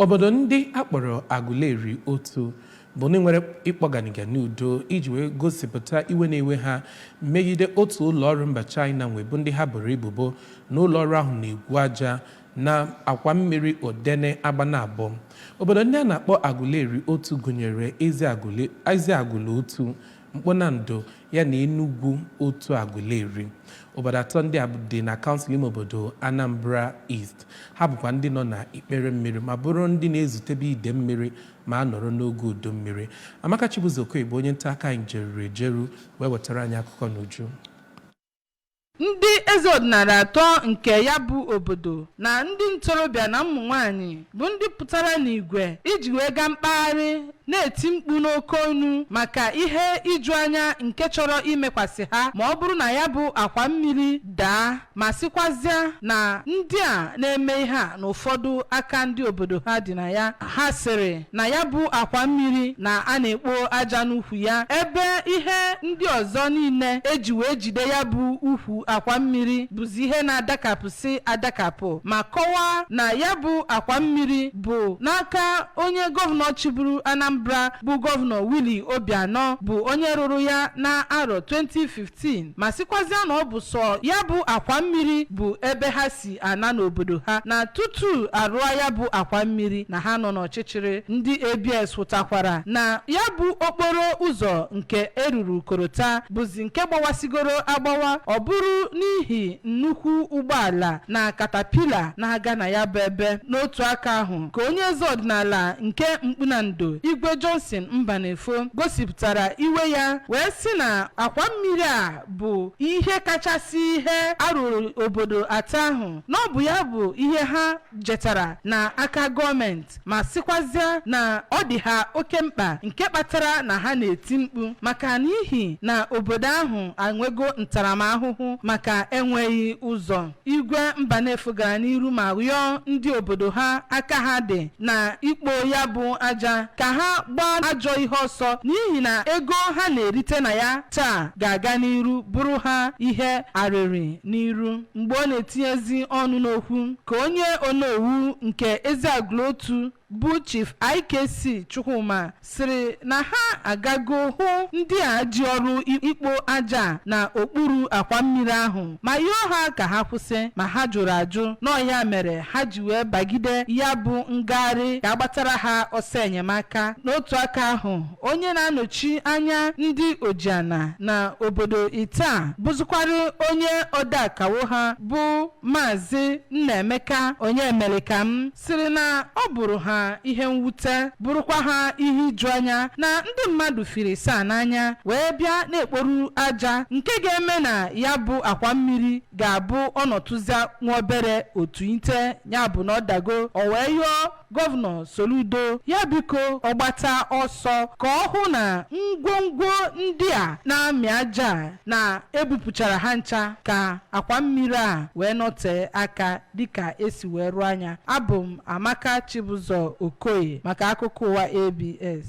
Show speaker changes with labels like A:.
A: Obodo ndị a kpọrọ Aguleri otu bụ ndị nwere ịkpọ ganiga n'udo iji wee gosipụta iwe na-ewe ha megide otu ụlọọrụ mba China nwe bụ ndị ha boro ebubo na ụlọọrụ ahụ na-egwu aja na akwa mmiri Odene Agbanabọ. Obodo ndị a na-akpọ Aguleri otu gụnyere Eziagụlụ Otu, Mkpunando ya na Enugwu otu Aguleri. Obodo atọ ndị a dị na kansụl ime obodo Anambra East. Ha bụkwa ndị nọ na ikpere mmiri ma bụrụ ndị na-ezutebe ide mmiri ma a nọrọ n'oge udu mmiri. Amaka Chibuzor Okoye bụ onye nta aka anyị jeruru ejeru wee wetara anyị akụkọ n'uju.
B: Ndị eze ọdịnala atọ nke ya bụ obodo na ndị ntorobịa na ụmụ nwaanyị bụ ndị pụtara n'igwe iji wee gaa mkpagharị na-eti mkpu n'oke ọnụ maka ihe ijuanya nke chọrọ imekwasị ha ma ọ bụrụ na ya bụ akwa mmiri daa ma sịkwazịa na ndị a na-eme ihe a na ụfọdụ aka ndị obodo ha dị na ya ha sịrị na ya bụ akwa mmiri na a na-ekpo aja n'ukwu ya ebe ihe ndị ọzọ niile e ji wee jide ya bụ ukwu akwa mmiri bụzi ihe na-adakapụsị adakapụ ma kọwaa na ya bụ akwa mmiri bụ n'aka onye gọvanọ chịburu Anambra bụ gọvanọ Willie Obianọ bụ onye rụrụ ya na arọ 2015 ma sịkwazịa na ọ bụ sọ ya bụ akwa mmiri bụ ebe ha si ana n'obodo ha na tutu a rụa ya bụ akwa mmiri na ha nọ n'ọchịchịrị. Ndị ABS hụtakwara na ya bụ okporo ụzọ nke e ruru korota bụzi nke gbawasigoro agbawa ọ bụrụ n'ihi nnukwu ụgbọala na katapila na-aga na ya bụ ebe. N'otu aka ahụ ka onye eze ọdịnala nke Mkpunando, Igwe Johnson Mbanefo gosipụtara iwe ya wee sị na akwa mmiri a bụ ihe kachasị ihe a rụrụ obodo atọ ahụ na ọ bụ ya bụ ihe ha jetara na aka gọọmenti ma sịkwazịa na ọ dị ha oke mkpa nke kpatara na ha na-eti mkpu maka n'ihi na obodo ahụ anwego ntaramahụhụ maka enweghị ụzọ Igwe Mbanefo gara n'iru ma yọọ ndị obodo ha aka ha dị na ikpo ya bụ aja ka ha gbaa ajọ ihe ọsọ n'ihi na ego ha na-erite na ya taa ga-aga n'iru bụrụ ha ihe arịrị n'iru. Mgbe ọ na-etinyezi ọnụ n'okwu ka onye onowu nke Eziagụlụ Otu bụ Chief IKC Chukwuma sịrị na ha agago hụ ndị a ji ọrụ ikpo aja a na okpuru akwa mmiri ahụ ma yọọ ha ka ha kwụsị ma ha jụrụ ajụ n'ọ ya mere ha ji wee bagide ya bụ ngagharị ka a gbatara ha ọsọ enyemaka n'otu aka ahụ onye na-anọchi anya ndị ojiana na obodo ịtọ a bụzụkwara onye odeakawo ha bụ maazị Nnaemeka Onyemerekam sịrị na ọ bụrụ ha ihe mwute bụrụkwa ha ihe ijuanya na ndị mmadụ firi saa n'anya wee bịa na-ekporu aja nke ga-eme na ya bụ akwa mmiri ga-abụ ọ nọtụzia nwa obere otu ite ya bụ na ọ dago o wee yọọ gọvanọ Soludo ya biko ọ gbata ọsọ ka ọ hụ na ngwongwo ndị a na-amị aja a na e bupụchara ha ncha ka akwa mmiri a wee nọtee aka dịka e si wee tụọ anya. Abụ m Amaka Chibụzọ Okoye maka akụkọ ụwa ABS.